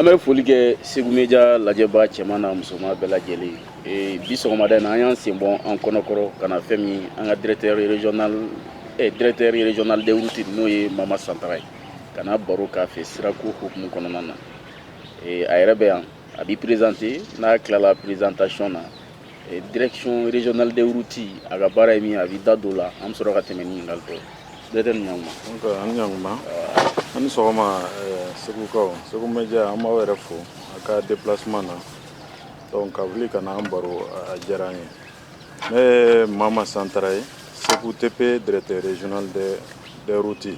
an bɛ foli kɛ segu media lajɛba cɛman n'a musoman bɛɛ lajɛlen eh, bi sɔgɔmada na an y'an sen bɔ an kɔnɔkɔrɔ ka na fɛn min an ka directeur régional eh, directeur régional des routes n'o ye mama santara ye ka na baro k'a fɛ sirako hukumu kɔnɔna na eh, a yɛrɛ bɛ yan a b'i présenter n'a tilala présentation na Eh, direction régionale des routes a ka baara ye min ye a b'i da don o la an bɛ sɔrɔ ka tɛmɛ ni ɲininkali tɔw ye directeur i ni sɔgɔma aw ni sɔgɔma aw ni sɔgɔma eh, segukaw segu media an b'aw yɛrɛ fo aw ka déplacement na donc ka wuli ka na an baro a diyara an ye ne ye mama santara ye segu tp directeur régional des routes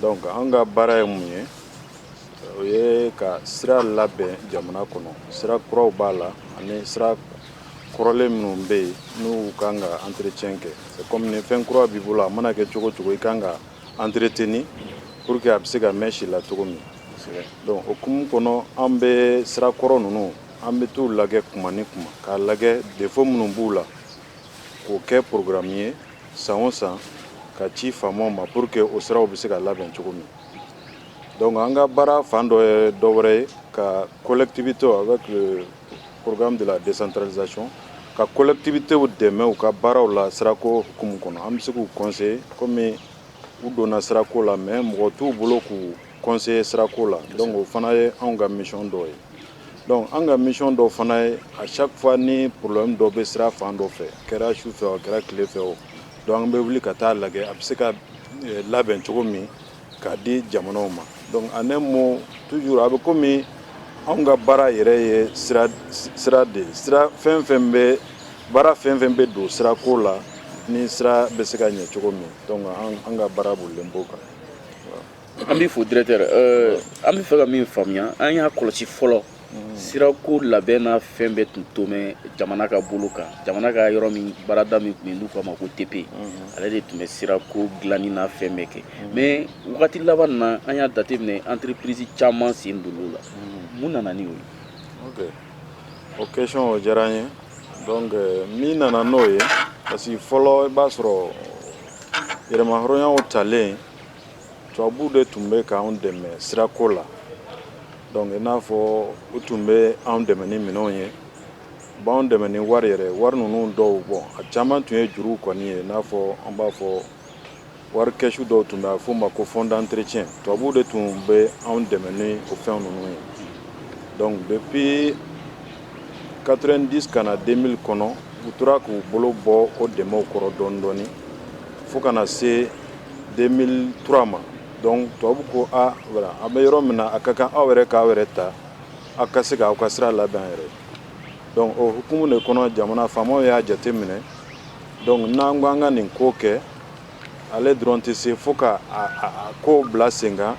donc an ka baara ye mun ye o ye ka sira labɛn jamana kɔnɔ sira kuraw b'a la ani sira kɔrɔlen minnu bɛ yen n'u ka kan ka entretien kɛ kɔmi ni fɛn kura b'i bolo a mana kɛ cogo o cogo i ka kan k'a entretenir pour que a bɛ se ka mɛn si la cogo min donc o hukumu kɔnɔ an bɛ sira kɔrɔ ninnu an bɛ t'u lajɛ kuma ni kuma k'a lajɛ défaut minnu b'u la k'o kɛ programme ye san o san k'a ci faamaw ma pour que o siraw bɛ se ka labɛn cogo min Donc an ka baara fan dɔ ye dɔ wɛrɛ ye ka collectivité avec le programme de la décentralisation ka collectivitéw dɛmɛ u ka baaraw la sirako hukumu kɔnɔ. An bɛ se k'u conseiller komi u donna sirako la mais mɔgɔ t'u bolo k'u conseiller sirako la donc o fana ye anw ka mission dɔ ye. Donc an ka mission dɔ fana ye à chaque fois ni problème dɔ bɛ sira fan dɔ fɛ, a kɛra su fɛ o, a kɛra tile fɛ o, donc an bɛ wuli ka taa a lajɛ a bɛ se ka labɛn cogo min k'a di jamanaw ma donc en un mot toujours a bɛ komi anw ka baara yɛrɛ ye sira sira de ye sira fɛn o fɛn bɛ baara fɛn o fɛn bɛ don sirako la ni sira bɛ se ka ɲɛ cogo min donc an ka baara bolilen b'o kan an b'i fo directeur an bɛ fɛ ka min faamuya an y'a kɔlɔsi fɔlɔ sirako labɛn n'a fɛn bɛɛ tun to mɛn jamana ka bolo kan jamana ka yɔrɔ min baarada min tun n'u k'a ma ko tp ale de tun bɛ sirako dilanni n'a fɛn bɛɛ kɛ mais wagati laban na an y'a jateminɛ entreprise caman sen donna o la mun nana ni o ye o question o diyara n ye donc min nana n'o ye parce que fɔlɔ i b'a sɔrɔ yɛrɛmahɔrɔnya talen tubabuw de tun bɛ k'an dɛmɛ sirako la donc i n'a fɔ u tun bɛ an dɛmɛ ni minɛnw ye u b'an dɛmɛ ni wari yɛrɛ wari ninnu dɔw bon a caman tun ye juruw kɔni ye i n'a fɔ an b'a fɔ wari kɛsu dɔw tun bɛ a f'o ma ko fond d'entretien tubabuw de tun bɛ an dɛmɛ ni o fɛn ninnu ye donc depuis quatre-vingt-dix ka na deux mille kɔnɔ u tora k'u bolo bɔ o dɛmɛw kɔrɔ dɔɔnin dɔɔnin fo ka na se deux mille trois ma donc tubabu ko a an bɛ yɔrɔ min na a ka kan aw yɛrɛ k'aw yɛrɛ ta aw ka se k' aw ka sira labɛn aw yɛrɛ donc o hukumu de kɔnɔ jamana faamaw y'a jate minɛ donc n'an ko an ka nin ko kɛ ale dɔrɔn tɛ se fo ka kow bila sen kan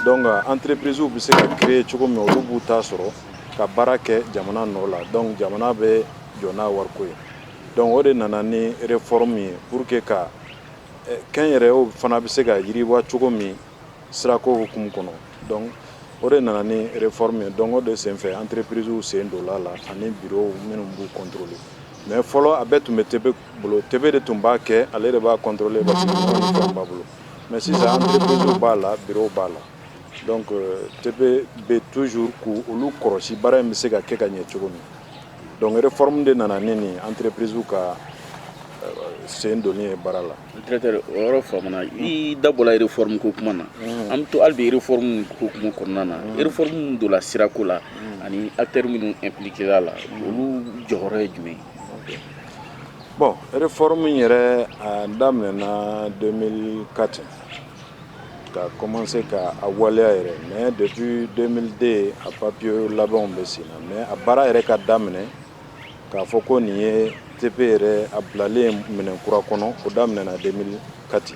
donc entreprisew bɛ se ka créer cogo min olu b'u ta sɔrɔ ka baara kɛ jamana nɔ la donc jamana bɛ jɔ n'a wariko ye donc o de nana ni réforme ye pour que ka kɛnyɛrɛw fana bɛ se ka yiriwa cogo min sirako hukumu kɔnɔ donc o de nana ni réforme ye donc o de senfɛ entreprisew sen donna a la ani bureau minnu b'u contrôler mais fɔlɔ a bɛɛ tun bɛ TP bolo TP de tun b'a kɛ ale de b'a contrôler b'a bolo mais sisan entreprise b'a la bureau b'a la donc TP bɛ toujours k'olu kɔlɔsi baara in bɛ se ka kɛ ka ɲɛ cogo min donc réforme de nana ni nin entreprisew ka sen donni ye baara la yɔrɔ fa i da bɔra réforme ko kuma na an bɛ to hali bi réforme ko kuma kɔnɔna na réforme donna sirako la ani acteur minnu impliquera a la olu jɔyɔrɔ ye jumɛn ye Bon réforme yɛrɛ daminɛna deux mille quatre ka commencer k'a waleya yɛrɛ mais depuis deux mille deux a papiye labɛnw bɛ sen na mais a baara yɛrɛ ka daminɛ k'a fɔ ko nin ye TP yɛrɛ a bilalen minɛn kura kɔnɔ o daminɛna deux mille quatre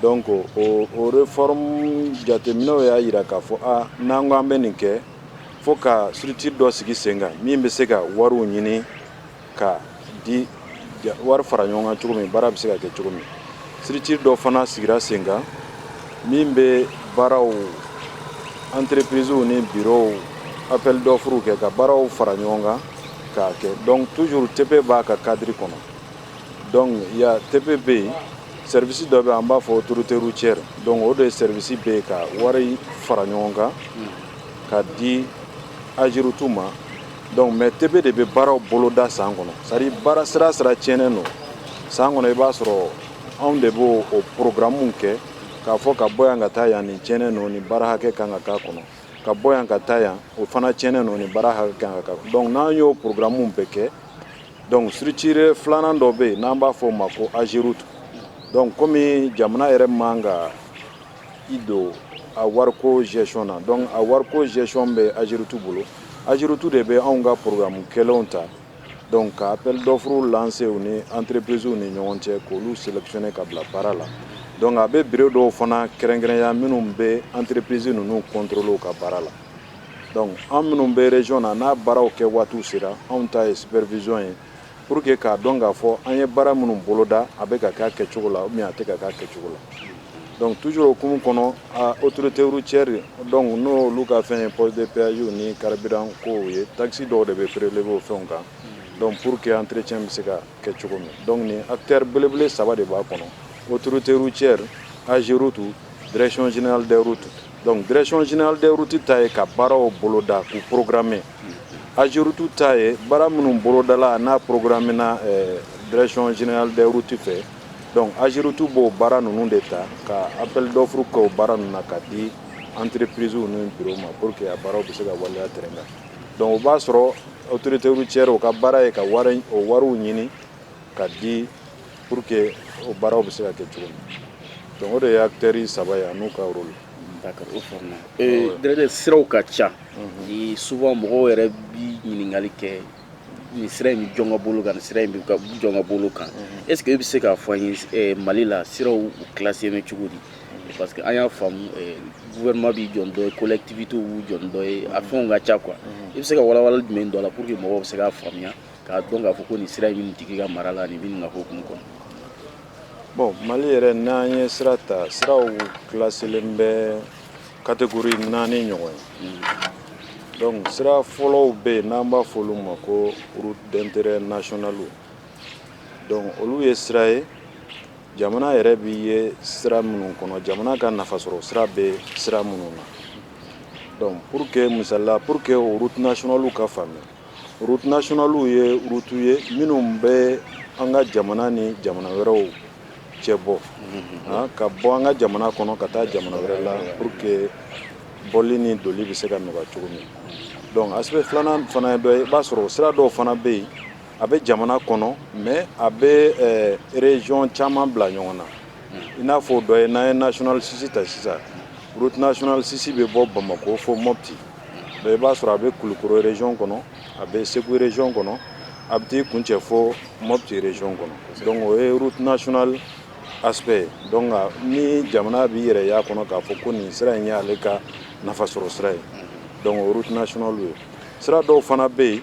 donc o o réforme jateminɛw y'a jira k'a fɔ aa n'an ko an bɛ nin kɛ fo ka structure dɔ sigi sen kan min bɛ se ka wariw ɲini ka di wari fara ɲɔgɔn kan cogo min baara bɛ se ka kɛ cogo min structure dɔ fana sigira sen kan min bɛ baaraw entreprisew ni bureaux appel d'offres kɛ ka baaraw fara ɲɔgɔn kan k'a kɛ donc toujours TP b'a ka cadre kɔnɔ Donc il y a TP be yen service dɔ be yen an b'a fɔ autorité routière donc o de service be yen ka wari fara ɲɔgɔn kan ka di AGEROUTE ma donc mais TP de be baaraw boloda san kɔnɔ c'est à dire baara sira sira tiɲɛnen don san kɔnɔ i b'a sɔrɔ anw de b'o o programme kɛ k'a fɔ ka bɔ yan ka taa yan nin tiɲɛnen don nin baara hakɛ kan ka k'a kɔnɔ ka bɔ yan ka taa yan o fana tiɲɛnen don nin baara hakɛ kan ka k'a kɔnɔ donc n'an y'o programme bɛɛ kɛ Donc structure filanan dɔ bɛ yen n'an b'a fɔ o ma ko Ageroute donc komi jamana yɛrɛ man ka i don a wariko gestion na donc a wariko gestion bɛ Ageroute bolo Ageroute de bɛ anw ka programme kɛlenw ta donc ka appel d'offre lancer u ni entreprisew ni ɲɔgɔn cɛ k'olu sélectionner ka bila baara la donc a bɛ bureau dɔw fana kɛrɛnkɛrɛnya minnu bɛ entreprise ninnu contrôler u ka baara la Dɔnku an minnu bɛson na n'a baaraw kɛ waati sera anw ta ye sipɛrezson ye pur que k'a dɔn k'a fɔ an ye baara minnu boloda a bɛ ka kɛ kɛcogo la min a tɛ ka kɛ kɛcogo la dɔnku tuur o kun kɔnɔ otote cɛri dɔnku n'o olu ka fɛn ye pɔze peyw ni karibian ko ye takisi dɔw de bɛ feereerele bɔ fɛnw kan dɔnku pur que an terire bɛ se ka kɛ cogo min dɔnku ni a teri belebele saba de b'a kɔnɔ otote cɛri anzeriw tu dreconsinali dawu tu Donc direction générale des routes ta ye ka baaraw boloda k'u programmer AGEROUTE ta ye baara minnu bolodala n'a programmena eh, direction générale des routes fɛ donc AGEROUTE b'o baara ninnu de ta ka appel d'offre kɛ o baara ninnu na ka di entreprise ni bureau ma pour que a baaraw bɛ se ka waleya terrain kan donc o b'a sɔrɔ autorité routière o ka baara ye ka wari o wariw ɲini ka di pour que o baaraw bɛ se ka kɛ cogo min donc o de ye acteurs saba ye an'u ka rôle D'accord, o faamuna. Ee, Directeur siraw ka ca. Ni souvent mɔgɔw yɛrɛ bi ɲininkali kɛ nin sira in bɛ jɔn ka bolo kan nin sira in bɛ ka jɔn ka bolo kan. Est ce que e bɛ se k'a fɔ an ye eh, Mali la siraw u classélen bɛ cogo di? Parce que an y'a faamu eh, gouvernement b'i jɔ ni dɔ ye collectivités b'u jɔ ni dɔ ye a fɛnw ka ca quoi. I bɛ se ka walawalali jumɛn don a la pour que mɔgɔw bɛ se k'a faamuya? k'a dɔn k'a fɔ ko nin sira in tigi ka mara la nin bɛ nin ka hukumu kɔnɔ bon mali yɛrɛ n'an ye sira ta siraw kilasilen bɛ catégorie naani ɲɔgɔn ye mm. donc sira fɔlɔw bɛ yen n'an b'a fɔ olu ma ko route d'intérêt national donc olu ye sira ye jamana yɛrɛ b'i ye sira minnu kɔnɔ jamana ka nafasɔrɔ sira bɛ sira minnu na donc pour que misalila pour que o route nationalew ka faamuya Route nationalew ye routew ye minnu bɛ an ka jamana ni jamana wɛrɛw cɛ bɔ ka bɔ an ka jamana kɔnɔ ka taa jamana wɛrɛ la pour que bɔli ni donni bɛ se ka nɔgɔya cogo min donc aspect filanan fana dɔ ye i b'a sɔrɔ o sira dɔw fana bɛ yen a bɛ jamana kɔnɔ mais a bɛ région caman bila ɲɔgɔn na i n'a fɔ o dɔ ye n'an ye nationale six ta sisan route nationale six bɛ bɔ bamakɔ fo mɔti i b'a sɔrɔ a bɛ kulukɔrɔ région kɔnɔ a bɛ segu région kɔnɔ a bɛ t'i kuncɛ fo mɔti région kɔnɔ donc o ye route nationale aspect ye donc ni jamana b'i yɛrɛ y'a kɔnɔ k'a fɔ ko nin sira in y'ale ka nafasɔrɔ sira ye donc o route nationale ye sira dɔw fana bɛ yen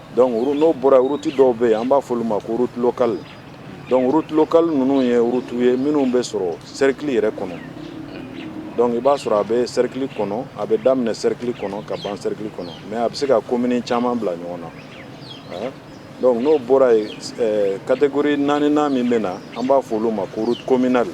Donc route n'o bɔra yen route dɔw bɛ yen an b'a f'olu ma ko route locale donc route locale ninnu ye routew ye minnu bɛ sɔrɔ cercle yɛrɛ kɔnɔ donc i b'a sɔrɔ a bɛ cercle kɔnɔ a bɛ daminɛ cercle kɔnɔ ka ban cercle kɔnɔ mais a bɛ se ka commune caman bila ɲɔgɔn na hein? donc n'o bɔra yen catégorie naaninan min bɛ na an b'a f'olu ma ko route communale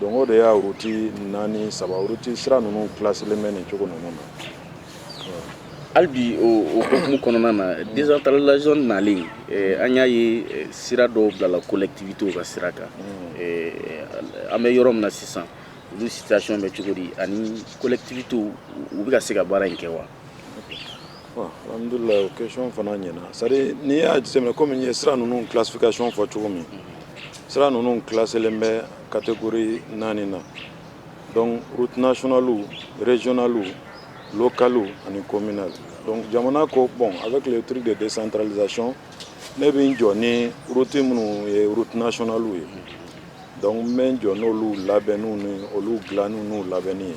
Donc o de y'a route naani saba route sira ninnu classelen bɛ nin cogo ninnu na hali bi o hukumu kɔnɔna na décentralisation nalen an y'a ye sira dɔw bilala collectivitéw ka sira kan an bɛ yɔrɔ min na sisan olu situation bɛ cogo di ani collectivitéw u bɛ ka se ka baara in kɛ wa Alhamdulila o question fana ɲɛna c'est à dire n'i y'a jateminɛ komi n ye sira ninnu classification fɔ cogo min sira ninnu classelenw bɛ catégorie naani na donc route nationale régionale locale ani communale donc jamana ko bon avec le truc de décentralisation ne bɛ n jɔ ni route minnu ye route nationale ye donc n bɛ n jɔ n'olu labɛnniw ni olu dilanniw n'u labɛnni ye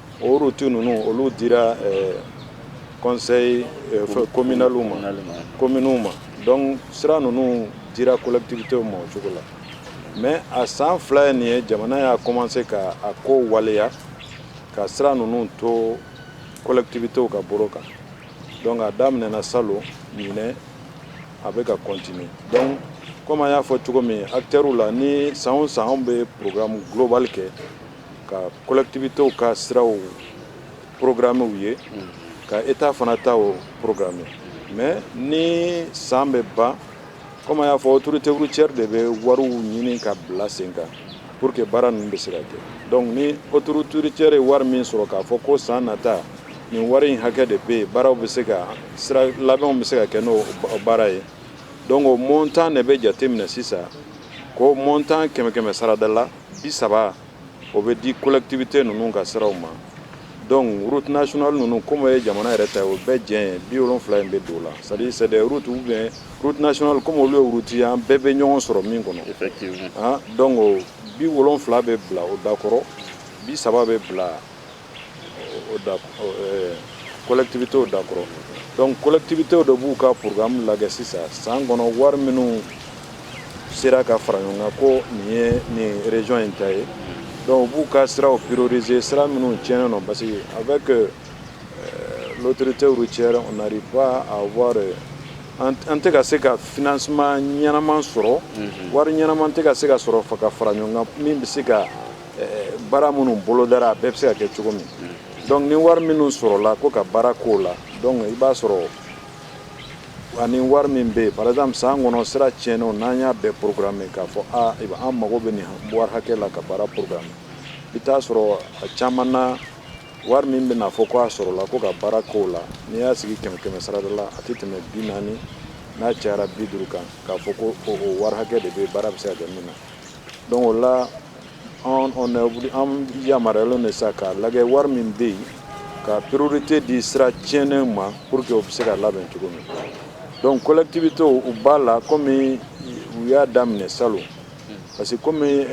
o route ninnu olu dira conseil communalw ma kominw ma donc sira ninnu dira collectivité ma o cogo la mais a san fila ye nin ye jamana y'a commencer ka a ko waleya ka sira ninnu to collectivitéw ka bolo kan donc a daminɛna salon ɲinan a bɛ ka continuer donc kɔmi n y'a fɔ cogo min acteurw la ni san o san a bɛ programme global kɛ ka collectivitéw ka siraw programmew ye ka état fana ta programmer mais ni san bɛ ban kɔmi n y'a fɔ autorité routière de bɛ wariw ɲini ka bila sen kan pour que baara ninnu bɛ se ka kɛ donc ni autorité routière ye wari min sɔrɔ k'a fɔ ko san nata nin wari in hakɛ de bɛ yen baaraw bɛ se ka sira labɛnw bɛ se ka kɛ n'o baara ye donc montant de bɛ jate minɛ sisan ko montant kɛmɛ kɛmɛ sarada la bi saba o bɛ di collectivité ninnu ka siraw ma donc route nationale ninnu kɔmi ye jamana yɛrɛ ta o bɛɛ jɛ ye bi wolonwula in bɛ don o la c'est à dire route nationale kɔmi olu ye route ye an bɛɛ bɛ ɲɔgɔn sɔrɔ min kɔnɔ donc bi wolonwula bɛ bila o dakɔrɔ bi saba bɛ bila collectivitéw dakɔrɔ donc collectivitéw dɔ b'u ka programme lajɛ sisan san kɔnɔ wari minnu sera ka fara ɲɔgɔn kan ko nin ye nin région in ta ye donc u b'u ka siraw prioriser sira minnu tiɲɛnen don parce que avec l'autorité routière on n'arrive pas à avoir an tɛ ka se ka financement ɲɛnaman sɔrɔ wari ɲɛnaman tɛ ka se ka sɔrɔ ka fara ɲɔgɔn kan min bɛ se ka baara minnu bolodara a bɛɛ bɛ se ka kɛ cogo min donc ni wari minnu sɔrɔla ko ka baara k'o la donc i b'a sɔrɔ ani wari min bɛ yen par exemple san kɔnɔ sira tiɲɛnenw n'an y'a bɛɛ programme k'a fɔ a an mago bɛ nin wari hakɛ la ka baara programme i t'a sɔrɔ a caman na wari min bɛna fɔ ko a sɔrɔla ko ka baara k'o la n'i y'a sigi kɛmɛ kɛmɛ sarada la a tɛ tɛmɛ bi naani n'a cayara bi duuru kan k'a fɔ ko o wari hakɛ de bɛ baara bɛ se ka kɛ min na donc o la An yamaruyalen de sa k'a lajɛ wari min bɛ yen ka priorité di sira tiɲɛn ma pour que u bɛ se ka labɛn cogo min donc collectivitéw u b'a la kɔmi u y'a daminɛ salon parce que kɔmi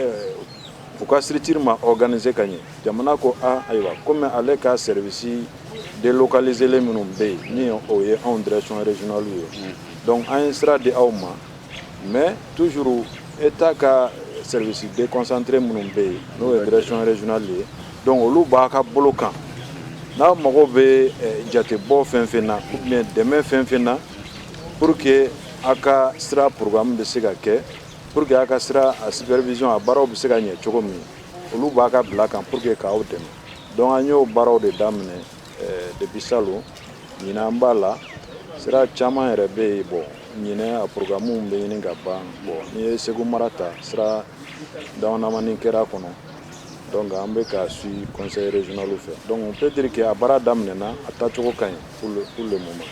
u ka structure ma organiser ka ɲɛ jamana ko aaa ayiwa kɔmi ale ka service délocaliselen minnu bɛ yen n'o ye anw direction régionalew ye donc an ye sira di aw ma Mɛ toujours État ka service déconcentré minnu bɛ yen n'o ye direction régionale ye donc olu b'a ka bolo kan n'a mago bɛ jatebɔ fɛn fɛn na ou bien dɛmɛ fɛn fɛn na pour que a ka sira programme bɛ se ka kɛ pour que a ka sira supervision a baaraw bɛ se ka ɲɛ cogo min olu b'a ka bila kan pour que k'aw dɛmɛ donc an y'o baaraw de daminɛ depuis salon ɲinan an b'a la sira caman yɛrɛ bɛ yen bon ɲinɛ a programmew bɛ ɲini ka ban bon n'i ye Segu mara ta sira damadamanin kɛra a kɔnɔ donc an bɛ k'a suivre conseil régional fɛ donc on peut dire que a baara daminɛna a taacogo ka ɲi pour le moment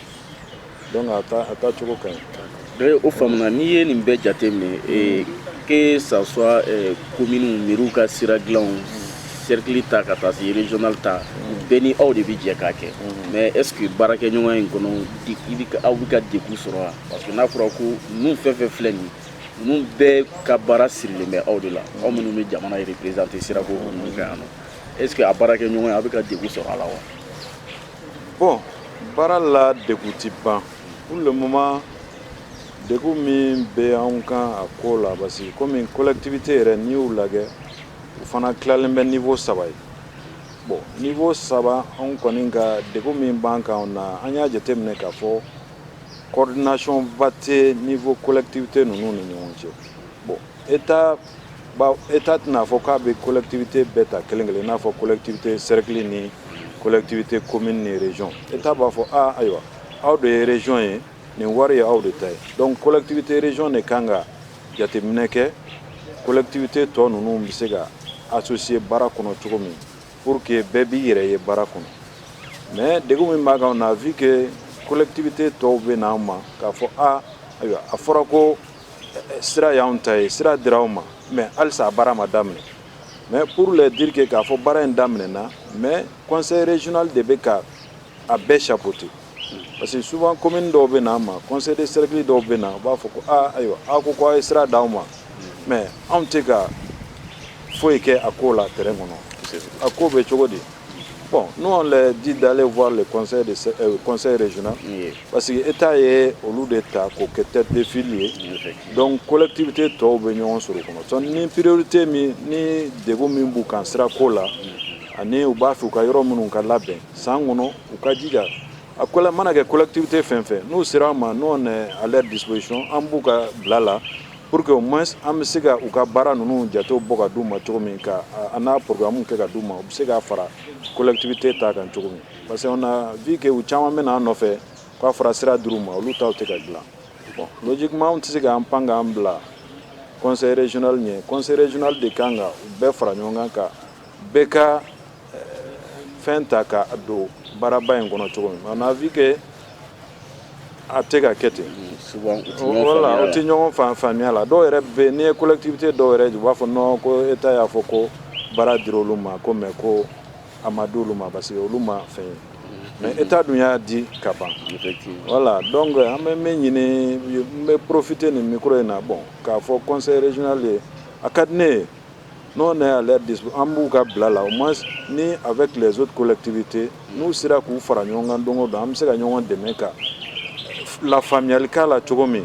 donc a ta a taacogo ka ɲi o faamuna n'i ye nin bɛɛ jate minɛ eh, que ça soit eh, commune mairie ka sira dilanw cercle ta ka taa se régional ta bɛɛ ni aw de bɛ jɛ k'a kɛ mais est ce que baarakɛɲɔgɔnya in kɔnɔ i bɛ aw bɛ ka degun sɔrɔ wa parce que n'a fɔra ko ninnu fɛn fɛn filɛ nin ninnu bɛɛ ka baara sirilen bɛ aw de la aw minnu bɛ jamana représenter sirako ninnu fɛ yan nɔ est ce que a baarakɛɲɔgɔnya a bɛ ka degun sɔrɔ a la wa bɔn baara la degun tɛ ban pour le moment degun min bɛ anw kan a ko la parce que komi collectivité yɛrɛ n'i y'u lajɛ u fana tilalen bɛ niveau saba ye bon niveau saba anw kɔni ka degun min b'an kan o na an y'a jateminɛ k'a fɔ coordination ba tɛ niveau collectivité ninnu ni ɲɔgɔn cɛ bon état bawo État tɛna a fɔ k'a bɛ collectivité bɛɛ ta kelen kelen n'a fɔ collectivité cercle ni collectivité commune ni région État b'a fɔ aaa ayiwa aw de ye région ye nin wari ye aw de ta ye donc collectivité région de ka kan ka jateminɛ kɛ collectivité tɔ ninnu bɛ se ka associer baara kɔnɔ cogo min pour que bɛɛ b'i yɛrɛ ye baara kɔnɔ mɛ degun min b'an kan na a fɔ i collectivité tɔw bɛ n'an ma k'a fɔ aa ayiwa a fɔra ko sira y'anw ta ye sira dira aw ma mɛ halisa a baara ma daminɛ mɛ pour le dire que k'a fɔ baara in daminɛna mɛ conseil régional de bɛ ka a bɛɛ chapeauter parce que souvent commune dɔw bɛ na an ma conseil de cercle dɔw bɛ na u b'a fɔ ko aa ayiwa aw ko ko aw ye sira d'aw ma mɛ anw tɛ ka foyi kɛ a ko la terrain kɔnɔ a ko bɛ cogo di Bon nous on dit d'aller voir le conseil régional parce que État ye olu de ta k'u kɛ tête de file ye donc collectivité tɔw bɛ ɲɔgɔn sɔrɔ kɔnɔ ni priorité min ni degun min b'u kan sira ko la ani u b'a fɛ u ka yɔrɔ minnu ka labɛn san kɔnɔ u ka jija a kɔlɛ mana kɛ collectivité fɛn o fɛn n'u sera an ma nous on est à leur disposition an b'u ka bila la Pour que au moins an bɛ se ka u ka baara ninnu jatew bɔ ka d'u ma cogo min ka a n'a programmes kɛ ka d'u ma u bɛ se k'a fara collectivité ta kan cogo min parce que on a vu que u caman bɛ na an nɔfɛ k'a fɔra sira dir'u ma olu taw tɛ ka dilan bon logiquement an tɛ se k'an pan k'an bila conseil régional ɲɛ conseil régional de kan ka u bɛɛ fara ɲɔgɔn kan ka bɛɛ ka fɛn ta ka don baaraba in kɔnɔ cogo min on a vu que a tɛ ka kɛ ten voilà u tɛ ɲɔgɔn fan faamuya la dɔw yɛrɛ bɛ n'i ye collectivité dɔw yɛrɛ u b'a fɔ non ko État y'a fɔ ko baara dir'olu ma ko mais ko a ma di olu ma parce que olu ma fɛn ye mais État dun y'a di ka ban voilà donc an bɛ min ɲini n bɛ profiter nin micro in na bon k'a fɔ conseil régional ye a ka di ne ye Nous on est à leur di an b'u ka bila la au moins ni avec les autres collectivités n'u sera k'u fara ɲɔgɔn kan donc donc an bɛ se ka ɲɔgɔn dɛmɛ ka lafaamuyali k'a la cogo min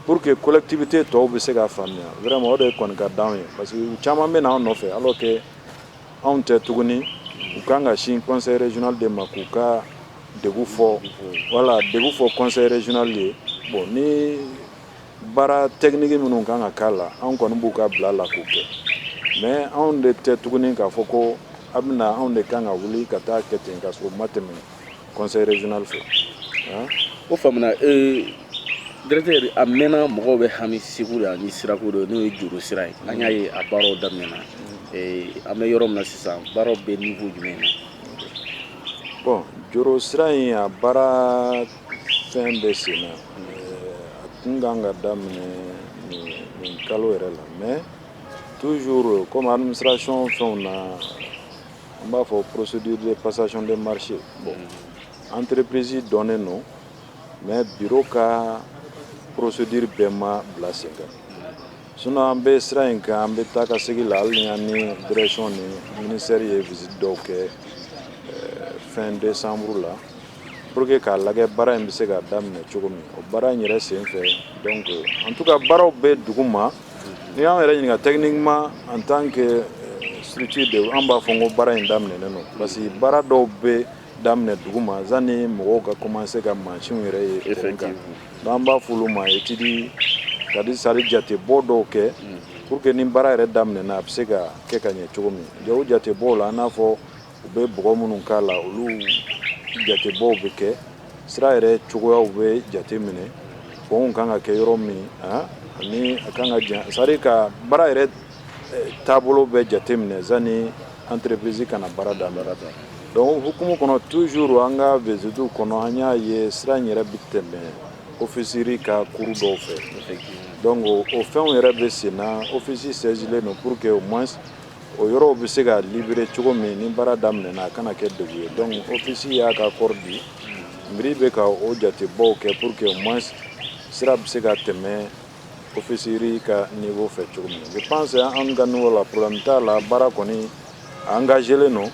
pour que collectivité tɔw bɛ se ka faamuya vraiment o de ye kɔni ka di an ye parce que caman bɛ n'an nɔfɛ alors que anw tɛ tuguni u kan ka sin conseil régional de ma k'u ka degun fɔ voilà degun fɔ conseil régional ye bon ni Baara technique minnu kan ka k'a la anw kɔni b'u ka bila la k'u kɛ mais anw de tɛ tuguni k'a fɔ ko a bɛna anw de kan ka wuli ka taa kɛ ten k'a sɔrɔ a ma tɛmɛ conseil régional fɛ o fa ee g a mɛnna mɔgɔw bɛ hami segu la ni sirako dɔ n'o ye joro sira ye an y'a ye a baaraw daminɛna an bɛ yɔrɔ min sisan baaraw bɛ niveau jumɛn bon joro sira in a baara Fɛn bɛ sen na a tun ka kan ka daminɛ nin kalo yɛrɛ la mais toujours comme administration fɛnw na an b'a fɔ procédure de passation de marché bon entreprise dɔnnen don mais bureau ka procédure bɛɛ ma bila sen kan sinon an bɛ sira in kan an bɛ taa ka segin la hali ni an ni direction ni ministère ye visite dɔw kɛ fin décembre la Pour que k'a lajɛ baara in bɛ se ka daminɛ cogo min o baara in yɛrɛ sen fɛ donc en tout cas baaraw bɛ dugu ma n'i y'an yɛrɛ ɲininka techniquement en tant que structure de an b'a fɔ n ko baara in daminɛnen don parce que baara dɔw bɛ daminɛ dugu ma yanni mɔgɔw ka commencer ka mansinw yɛrɛ ye terrain kan n'an b'a fɔ olu ma étude c'est à dire c'est à dire jatebɔ dɔw kɛ pour que ni baara yɛrɛ daminɛna a bɛ se ka kɛ ka ɲɛ cogo min o jatebɔw la an n'a fɔ U bɛ bɔgɔ minnu k'a la olu jatebɔ bɛ kɛ sira yɛrɛ cogoyaw bɛ jate minɛ pɔnw kan ka kɛ yɔrɔ min ani a kan ka jan sari ka baara yɛrɛ taabolo bɛ jate minɛ sani entreprise ka na baara dan anba ta dɔnku o hukumu kɔnɔ toujours an ka visite kɔnɔ an y'a ye sira in yɛrɛ bɛ tɛmɛ Office riz ka kuru dɔw fɛ dɔnku o fɛnw yɛrɛ bɛ sen na Office saisilen don pour que au moins O yɔrɔw bɛ se ka libere cogo min ni baara daminɛna a kana kɛ degun ye donc Office y'a ka accord di miiri bɛ ka o jatebɔw kɛ pour que au moins sira bɛ se ka tɛmɛ Office riz ka niveau fɛ cogo min je pense an ka niveau la problème t'a la baara kɔni engagelen don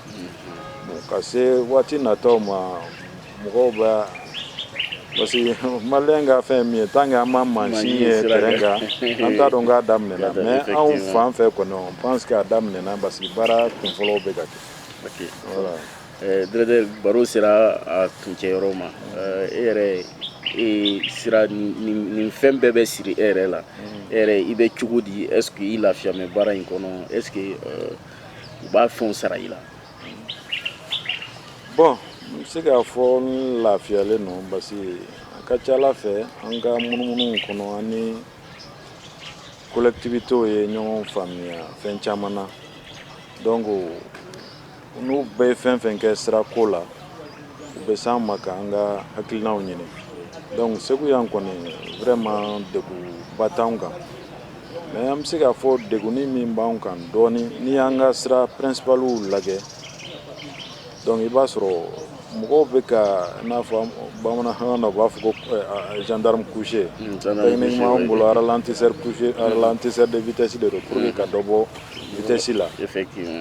ka se waati nataw ma mɔgɔw bɛ yan parce que maliyɛn ka fɛn min ye tant que an ma mansin ye terrain kan an t'a dɔn k'a daminɛna mais anw fan fɛ kɔni on pense que a daminɛna parce que baara kun fɔlɔw bɛ ka kɛ voilà eh, directeur baro sera a kuncɛ yɔrɔ ma eh, e yɛrɛ e sira nin fɛn bɛɛ bɛ siri e yɛrɛ la mm. e yɛrɛ i bɛ cogo di est ce que i lafiyalen bɛ baara in kɔnɔ est ce que eh, u b'a fɛnw sara i la bɔn n bɛ se k'a fɔ n lafiyalen don parce que a ka ca a la fɛ an ka munumunu kɔnɔ an ni kolɛkitiwitew ye ɲɔgɔn faamuya fɛn caman na donc n'u bɛ fɛn fɛn kɛ sira ko la u bɛ s'an ma k'an ka hakilinaw ɲini donc Segu yan kɔni vraiment degunba t'anw kan Mɛ an bɛ se k'a fɔ degun min b'an kan dɔɔnin n'i y'an ka sira principalw lajɛ dɔnku i b'a sɔrɔ mɔgɔw bɛ ka n'a fɔ bamanankan na u b'a fɔ ko gendarme couché bon ralentisseur de vitesse de don pour ka dɔ bɔ vitesse la ka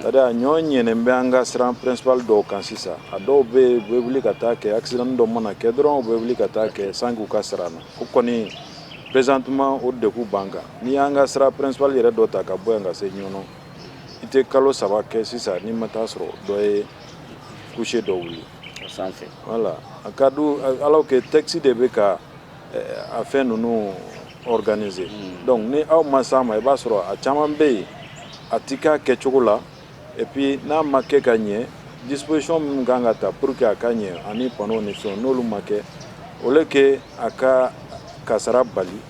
a ɲɔgɔn bɛ an ka sira principal dɔw kan sisan a dɔw bɛ yen u bɛ wuli ka taa kɛ accident dɔ mana kɛ dɔrɔn u bɛ wuli ka taa kɛ sans qu'u k'a sara an na o kɔni Présentement o degun b'an kan n'i y'an ka sira principal yɛrɛ dɔ ta ka bɔ yan ka se Ɲɔnɔ i tɛ kalo saba kɛ sisan n'i ma taa a sɔrɔ dɔ ye couché dɔ wuli sanfɛ wala a ka don alors que texte de bɛ ka a fɛn ninnu organiser donc ni aw ma s'an ma i b'a sɔrɔ a caman bɛ yen a tɛ k'a kɛcogo la epi n'a ma kɛ ka ɲɛ disposition minnu kan ka ta pour que a ka ɲɛ ani panneau ni fɛnw n'olu ma kɛ au lieu que a ka kasara bali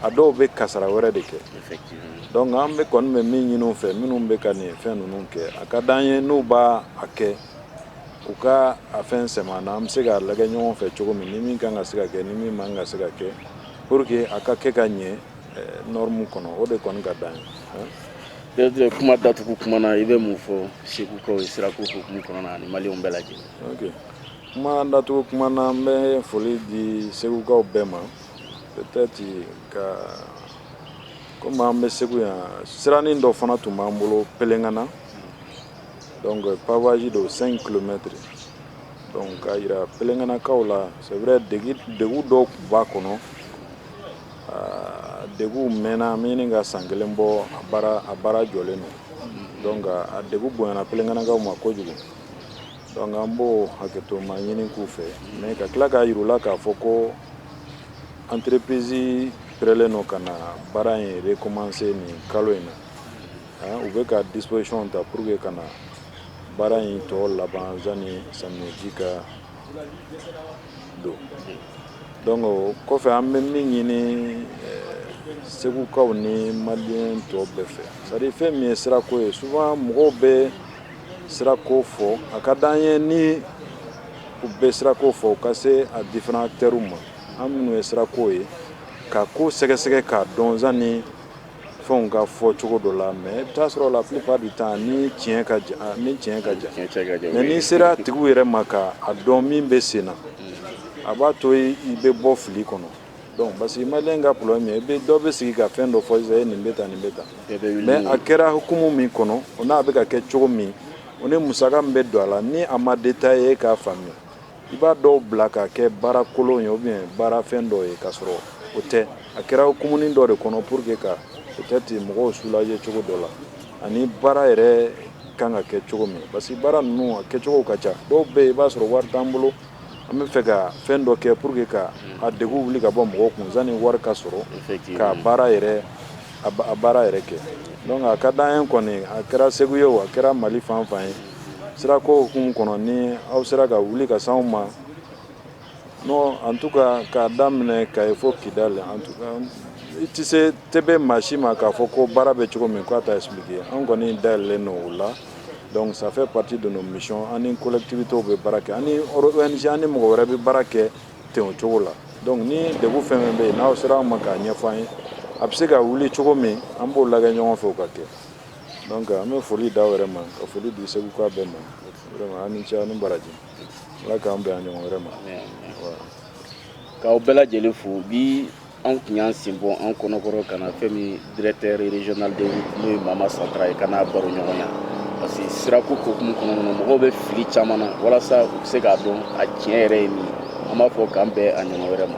a dɔw bɛ kasara wɛrɛ de kɛ donc an bɛ kɔni bɛ min ɲini u fɛ minnu bɛ ka nin fɛn ninnu kɛ a ka d'an ye n'u b'a a kɛ u ka a fɛn sɛmɛ an na an bɛ se k'a lagɛ ɲɔgɔn fɛ cogo min ni min kan ka se ka kɛ ni min man ka se ka kɛ pour que a ka kɛ ka ɲɛ eh, norme kɔnɔ o de kɔni ka d'an ye Directeur kuma datugu kuma na i bɛ mun fɔ segukaw ye sirako hukumu kɔnɔna na ani maliyɛnw bɛɛ lajɛlen. Ok kuma datugu kuma na n bɛ foli di segukaw bɛɛ ma peut-être que komi an bɛ segu yan siranin dɔ fana tun b'an bolo pelengana donc pavage de 5 kilomètres donc k'a jira pelenganakaw la c'est vrai degun dɔw tun b'a kɔnɔ A degun mɛnna a bɛ ɲini ka san kelen bɔ a baara jɔlen don donc a degun bonyana pelenganakaw ma kojugu donc an b'o hakɛto ma ɲini k'u fɛ mais ka tila k'a jira u la k'a fɔ ko entreprise parelen don ka na baara in recommencer nin kalo in na u bɛ ka disposition ta pour que ka na baara in tɔ laban zani samiyaji ka don donc o kɔfɛ an bɛ min ɲini eh, segukaw ni maliyɛn tɔw bɛɛ fɛ c'est-à-dire fɛn min ye sirako ye souvent mɔgɔw bɛ sirako fɔ a ka d'an ye ni u bɛ sirako fɔ u ka se a différents acteurs ma an minnu ye sirako ye ka ko sɛgɛsɛgɛ k'a dɔn zani fɛnw ka fɔ cogo dɔ la mais i bɛ t'a sɔrɔ la plupart du temps ni tiɲɛ ka jan a ni tiɲɛ ka jan tiɲɛ cɛ ka jan mais n'i sera tigiw yɛrɛ ma ka a dɔn min bɛ senna a b'a to i bɛ bɔ fili kɔnɔ donc parce que maliyɛn ka problème ye i bɛ dɔ bɛ sigi ka fɛn dɔ fɔ sisan e nin bɛ tan nin bɛ tan mais a kɛra hukumu min kɔnɔ o n'a bɛ ka kɛ cogo min o ni musaka min bɛ don a la ni a ma détaillé i ye k'a faamuya i b'a dɔw bila ka kɛ baara kolon ye ou bien baara fɛn dɔ ye ka sɔrɔ o tɛ a kɛra hukumu dɔ de kɔnɔ pour que ka o tɛ ten mɔgɔw soulager cogo dɔ la ani baara yɛrɛ kan ka kɛ cogo min parce que baara ninnu kɛcogo ka ca dɔw bɛ yen i b'a sɔrɔ wari t'an bolo an bɛ fɛ ka fɛn dɔ kɛ pour que ka a degun wuli ka bɔ mɔgɔ kun sanni wari ka sɔrɔ ka baara yɛrɛ a baara yɛrɛ kɛ a ka d'an ye kɔni a kɛra segu ye a kɛra mali fanfan ye sirako hukumu kɔnɔ ni aw sera ka wuli ka se anw ma non en tout cas k'a daminɛ Kayi fo Kidali en tout cas i tɛ se TP maa si ma k'a fɔ ko baara bɛ cogo min k'a t'a expliquer an kɔni dayɛlɛlen don o la donc ça fait partie de nos missions an ni collectivités bɛ baara kɛ an ni ONG an ni mɔgɔ wɛrɛ bɛ baara kɛ ten o cogo la donc ni degun fɛn fɛn bɛ yen n'aw sera an ma k'a ɲɛfɔ an ye a bɛ se ka wuli cogo min an b'o lajɛ ɲɔgɔn fɛ o ka kɛ An bɛ foli d'aw yɛrɛ ma ka foli di segukaw bɛɛ ma aw ni ce aw ni baraji ala k'an bɛn a ɲɔgɔn wɛrɛ ma k'aw bɛɛ lajɛlen fo bi anw tun y'an sen bɔ an kɔnɔkɔrɔ ka na fɛn min directeur régional des routes n'o ye mama santara ye ka na baroɲɔgɔnya parce que sirako hukumu kɔnɔ kɔnɔ mɔgɔw bɛ fili caman na walasa u bɛ se k'a dɔn a tiɲɛ yɛrɛ ye min an b'a fɔ k'an bɛn a ɲɔgɔn wɛrɛ ma